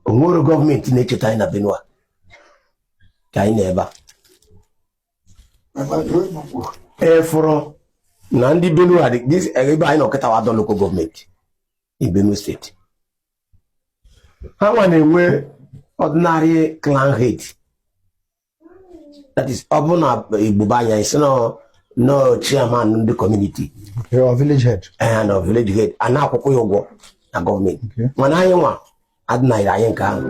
onwerọ gọọmenti na-echeta anyị na Benue ka anyị na ebe a ị fụrọ na ndị Benue ebe anyị nọ kịta wa Ado local gọọmenti Benue steeti ha nwa na-enwe ordinary clan head that is ọ bụ na Igbo be anyị sị na ọ chairman ndị community village head and village head a na-akwụkwa ya ụgwọ na gọọmenti mana anyị nwa adị na-enyere anyị nke ahụ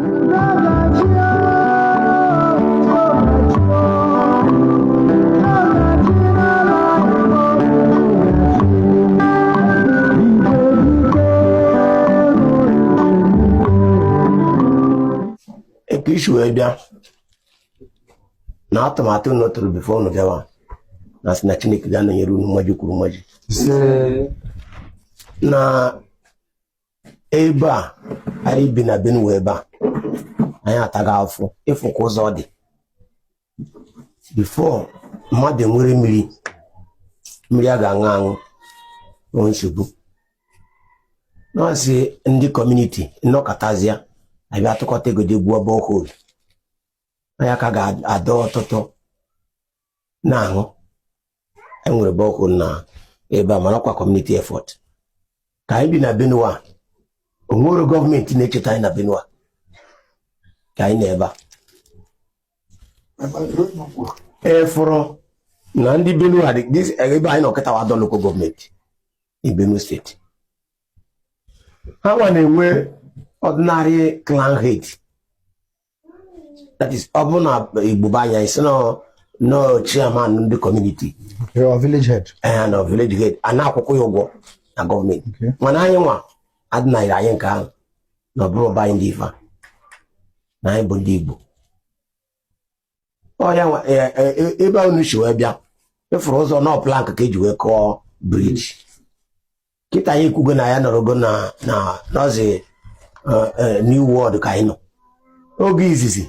ka i si wee bịa na atụmatụ unu tụrụ before unu bịawa na sị na Chineke ga-anọnyere unu mmaji kwuru mmaji na ebe a anyị bi na Benue ebe a anyị atago afụfụ ị fụ ka ụzọ dị before mmadụ nwere mmiri mmiri a ga-aṅụ aṅụ ọ nsogbu na-asị ndị community nọkatazịa abịa atụkọta ego jee gwuo borehole anya ka ga-adọ ọtụtụ na-aṅụ enwere borehole na ebe a mana ọkwa community effort ka anyị bi na Benue onwerọ gọọmenti na-echeta anyị na Benue ka anyị na ebe a ị fụrọ na ndị Benue a ebe anyị nọ kịta wa Ado local gọọmenti in Benue steeti ha nwa na-enwe ordinary clan head that is ọ bụ na Igbo be anyị sị na ọ chairman ndị community village head and village head a na-akwụkwa ya ụgwọ na gọọmenti mana anyị nwa adị na-enyere anyị nke ahụ na ọ bụrọ be anyị ndị ife na anyị bụ ndị Igbo ọ ya e, e, e, ebe unu si wee bịa ị fụrụ ụzọ na ọ plank ka eji wee kụọ bridge kịta anyị ekwugo na anyị nọrọgo na nọzi new world ka anyị nọ oge izizi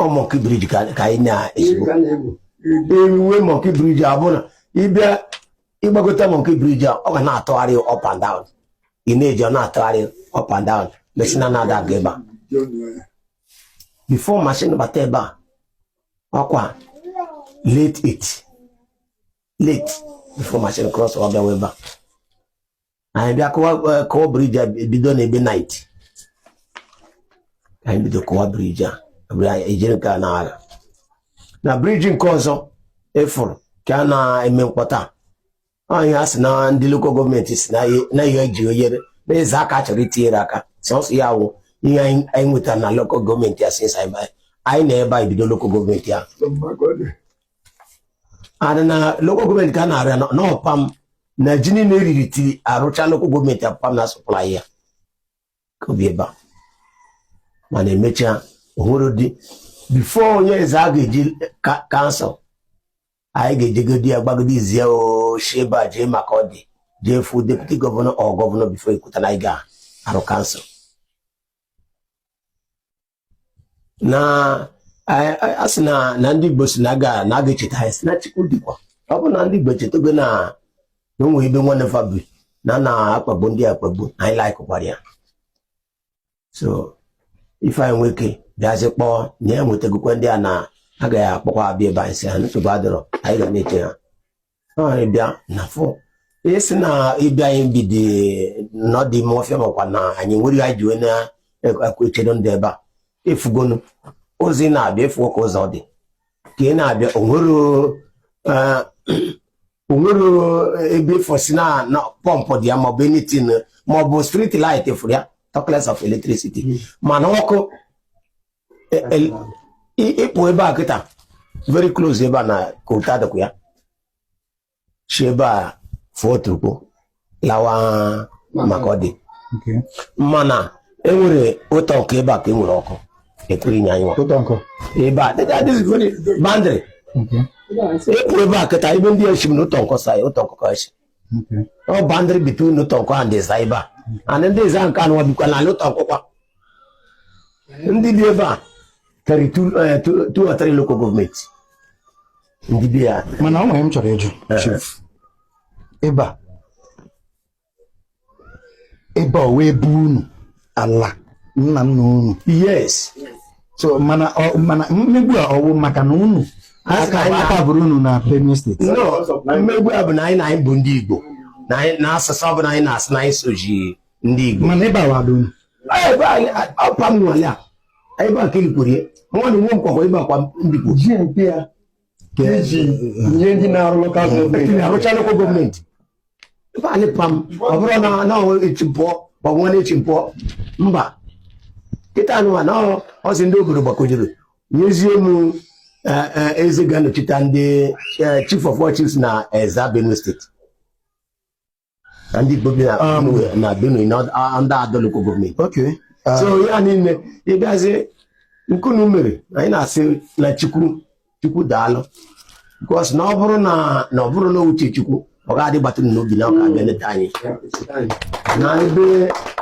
ọ monkey bridge ka anyị na-esibu eruwe monkey bridge a bụ na ị bịa ị gbagote monkey bridge a ọ ga na-atụgharị up and down ị na-eje ọ na-atụgharị up and down mesi na na-ada aga ebe a before machine bata ebe a ọkwa late it late before machine cross ọ bịawa ebe a anyị bịa kụwa kụwa briji a bido na ebe nait anyị bido kụwa briji a ejiri nke a na-agha na briji nke ọzọ ị fụrụ ka a na-eme mkpọta anyị a sị na ndị lokal gọọmenti si na ihe eji enyere ndị Ezza aka chọrọ itinyere aka sọsọ ya wụ ihe anyị nwetara na lokal gọọmenti a since anyị na ebe anyị bido lokal gọọmenti a adị na lokal gọọmenti ka a na-arụ ya na ọ pa m na ji niile eriri till arụcha lokal gọọmenti ọ pa m na-asọplai ya ka obi ebe a mana emechaa ohụrụ dị bifo onye Ezza ga-eji kansụl anyị ga-ejegodi ya gbagodi zie e shi ebe a jee Makurdi jee fụ deputi gọvanọ or gọvanọ bifo ekwuta na anyị ga-arụ kansụl na a sị na na ndị Igbo si na aga na aga echeta anyị si na Chukwu dịkwa ọ bụ na ndị Igbo echetago na na o nwe ebe nwanne fa bi na a na-akpagbu ndị a akpagbu na anyị laikụkwara ya so ife anyị nwee ike bịazi kpọọ na ya nwetagokwa ndị a na agaghị akpọkwa abịa ebe anyị si ha nsogbu adịrọ anyị ga na-eche ha ị bịa na-afụ a sị na ị bịa anyị bidi n'ọdị ime ọfịa makwa na anyị nwere anyị ji wee na-echedo ndị ebe a ị fụgonụ as ị na-abịa ị fụgo ka ụzọ dị ka ị na-abịa onwero eh, ebe ị fụ sị na pọmpụ dị ya maọbụ anything maọbụ street light fụrụ ya talkless of electricity hmm. mana ọkụ ịpụ ebe a kịta very close ebe a na coal tar dịkwa ya si ebe a fụọ Otukpo lawa Makurdi mana enwere Utonkon ebe a ka enwere ọkụ ekwere inye anyị ebe a bandịrị ịpụ ebe a kịta ebe ndị ya si m na Utonkon sa ya Utonkon ka si ọ bandịrị between Utonkon and Ezza ebe a and ndị Ezza nke anụwa bikwa n'ime Utonkon kwa ndị bi ebe a karị two or three lokal gọọmenti ndị bi ya mana ọ nwere ihe m chọrọ ịjụ ebe a ebe a wee bụ unu ala nna nna unu yes so mana ọ- mana mmegbu a ọwụ maka na unu a ka anyị aka bụrụ unu na benue steeti no mmegbu a bụ na anyị na anyị bụ ndị igbo na anyị na asụsụ ọ bụ na anyị na-asụ na anyị soji ndị igbo mana ebe a wadụ unu ebe anyị ọ pa m nwale a ebe a ka elikwuru ya nwanne nwe m kwakwa ebe a kwa m bikwu ji nke ya iji nye ndị na-arụ lokal gọọmenti arụcha lokal gọọmenti ebe a e li pa m ọ bụrụ na echi m pụọ ma ọ bụ nwanne echi m pụọ mba kịta anụwa na ọ sị ndị obodo gbakọjuru nyezie m e, e, eze ga-anọchite ndị e, chief of all chiefs na Ezza Benue steeti na ndị Igbo bi na Um, Benue- na Benue na ọ- a- ndị Ado local government Okay. Ah, so ya niile ịbịazi nke unu mere anyị na-asị na chukwu chukwu daalụ because na ọ bụrụ na na ọ bụrụ na uche chukwu ọ ga-adị gbata unu n'obi na ọ ga-abịa leta anyị na ebe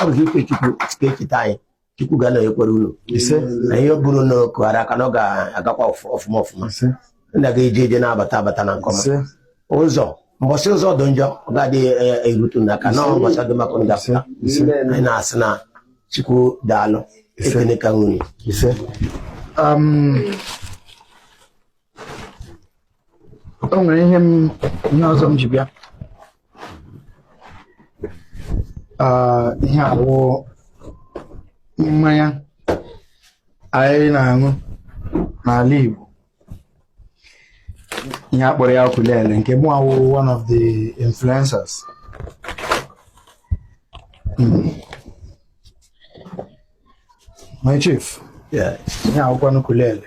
ọ bụ uche chukwu sị ka echeta anyị chukwu ga-anọnyekwara unu na ihe bụrụ na kụghara aka na ọ ga-agakwa ọfụma ọfụma na ga eje eje na-abata abata na nke ọma ụzọ mbọsị ụzọ dị njọ ọ ga-adị e, e, erutu unu aka na mbọsị dị mma ka unu ga-apụ anyị na-asị na chukwu daalụ ekenekwa m unu um, o nwere ihe m ihe ọzọ m ji bịa Ah, ihe a wụ mmanya anyị na-aṅụ n'ala Igbo ihe a kpọrọ ya kulele nke mụnwa wụ one of the influencers Mm. my chief Yeah. ihe a wụkwanụ kulele